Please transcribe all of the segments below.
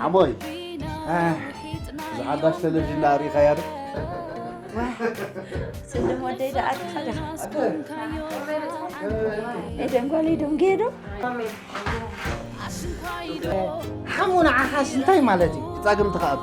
ሓሞይ እዛ ሓዳሽ ቴሌቭዥን ዳኣ ርኢኻያ ዶ ስልም ወደይ ዳኣ ኤደን ጓለይ ዶም ገዶ ሓሙ ንዓኻስ እንታይ ማለት እዩ ጻግምቲ ከኣባ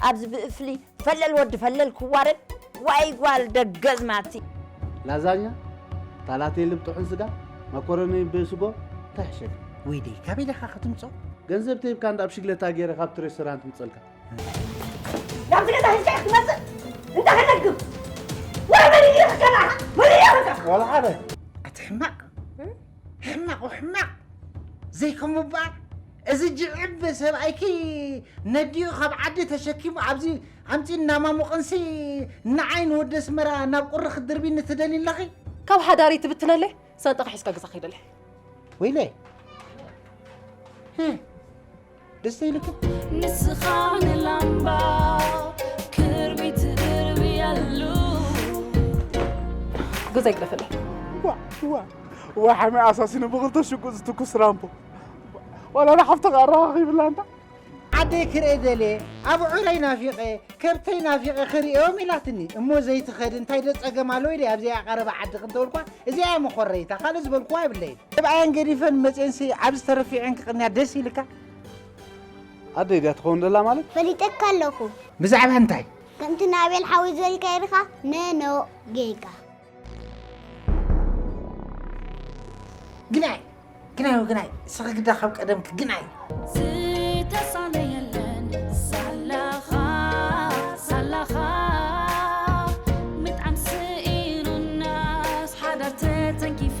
ኣብዚ ብእፍሊ ፈለል ወዲ ፈለል ክዋረድ ዋይ ጓል ደገዝማቲ። ላዛኛ ታላቴሊ ብ ጥሑን ስጋ ማኮረኒ ብ ስጎ ታይ ሕሸት እዩ። ወይ ደይ ካበይ ዲኻ ክትምጾ። ገንዘብ ተሂብካ እንዳ ብ ሽግለታ ጌረ ካብቲ ሬስቶራንት ምጸልካ። ናብዚ ገዛ ሒዝካዮ ክትመጽእ እንዳ ከነግብ ወይ መን እዩ ይኽከል ኣኻ መን እዩ ይኽከል ዋላ ሓደ። ኣቲ ሕማቅ ሕማቅ ወሕማቅ ዘይከሙ ባር። እዚ ጅዕብ ሰብኣይኪ ነዲኡ ካብ ዓዲ ተሸኪሙ ኣብዚ ኣምጺኡ እናማሙቕንሲ ንዓይ ንወዲ ኣስመራ ናብ ቁሪ ክትድርብይኒ ትደልዪ ኣለኺ? ካብ ሓዳረይ ትብትነለይ ሳንጣኻ ሒዝካ ገዛ ክይድ ኣለይ። ወይለይ ህ ደስ ኢሉኪ? ንስኻ ንላምባ ገዛ ይግደፈለይ። ዋ ዋ ዋ ሓመይ ኣሳሲኑ ብኽልተ ሽጉጥ ዝትኩስ ራምቦ ዋላ ንሓፍትኻ ኣረኻኺብላ እንዳ ዓደይ ክርኤ ደልየ ኣብዑረይ ናፊቐ ከብተይ ናፊቐ ክርእዮም ኢላትኒ እሞ ዘይትኸድ እንታይ ዶ ጸገም ኣለዎ ኢለ ኣብዚኣ ቀረባ ዓዲ ክንተበልኳ እዚኣ እያ መኾረይታ ካልእ ዝበልኩዋ የብለይን ተብኣየን ገዲፈን መጽኤንሲ ኣብዚ ተረፊዐን ክቕንያ ደስ ኢልካ ኣደይ ድያ ትኸውን ደላ ማለት ፈሊጠካ ኣለኹ ብዛዕባ እንታይ ከምቲ ንኣብኤል ሓወይ ዝበልካዮ ድኻ ነኖ ጌጋ ግናይ ግናይ ግናይ ስኺ ግዳ ካብ ቀደምኪ ግናይ ዝተሳለ የለን ሳላኻ ሳላኻ ምጥዓም ስኢኑናስ ሓዳር ተተንኪፋ